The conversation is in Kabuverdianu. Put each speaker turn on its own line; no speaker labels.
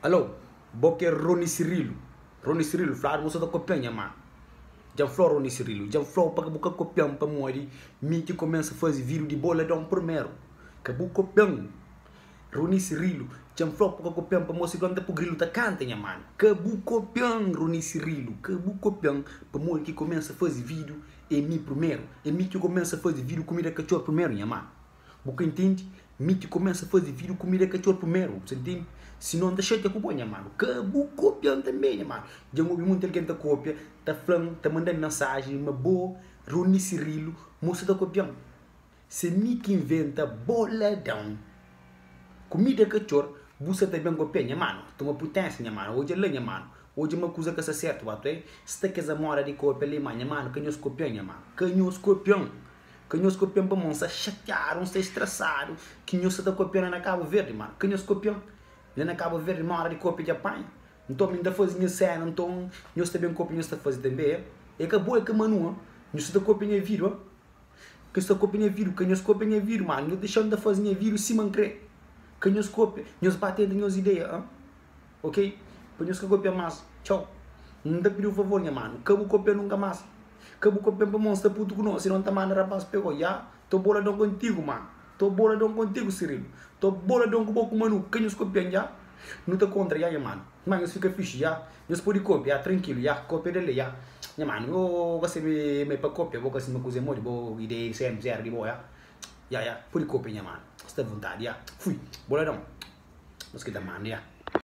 Alô, bo ke Rony Cirilo? Rony Cirilo, fladu bo sa ta kopia nha mama. Dja N fla-u Rony Cirilo, dja N fla-u pa ke bu ka kopia-m pamodi mi ki kumesa faze vidiu di bo ladon purmeru. Ka bu kopia-m Rony Cirilo, dja N fla-u pa bu ka kopia-m pamodi si donta pu grilu ta kanta nha manu. Ka bu kopia-m Rony Cirilo, ka bu kopia-m pamodi ki kumesa faze vidiu e mi purmeru. E mi ki kumesa faze vidiu kumida katxor purmeru nha manu. Bu ka intendi? Mi ki kumesa faze vídiu ku mira katxor primeru, bu ta intendi? Sinon, N ta xatia ku bo, nha manu. Ka bu kopia-m tanbê, nha manu. Dja N obi monti algen ta kopia, ta fla-m, ta manda-m mensajen ma bo, Rony Cirilo, mo sa ta kopia-m. Se mi ki inventa boladon ku mira katxor, bu sa ta ben kopia, nha manu? Toma putensa, nha manu. Odja la, nha manu. Odja ma kuza ka sta sertu, ba ta oe. Sta kes amoda di kopia alema, nha manu. Ka nhos kopia-m, nha manu. Ka nhos kopia-m. Ka nhos kopian pamó N sta xatiadu, N sta estrasadu Ki nhos sa ta kopia-m la na Kabu Verdi Má ka nhos kopia-m la na Kabu Verdi Má óra di kopia dja panha Nton mi N ta faze nha séna Nton nhos ta ben kopia nhos ta faze tanbe É ka bo, é ka Manu-a Nhos sa ta kopia nha vidu-a Ka nhos ta kopia nha vidu Ka nhos kopia nha vidu Má nhos dexa-m ta faze nha vidu sima N kre Ka nhos kopia Nhos ba tenta nhos ideia-a. Ok pa nhos ka kopia mas txau N ta pidi-u favor nha manu ka bu kopia nunka mas Ka bu kopia-m pamó N sta putu ku no sino N ta manda rapaz pegó Ya to boladon kontigu manu To boladon kontigu Sirilu To boladon ku bo ku Manu Ka nhos kopia-m ya Nu ta kontra ya nha manu Má nhos fika fixi ya Nhos podi kopia ya trankilu ya Kopia del le ya Nha manu yo ka sebi ma é pa kopia bo ka sima kuze modi bo ideia di sempri éra di bo ya Ya ya podi kopia nha manu Sta vontadi ya Fui boladon Nhos ki ta manda ya.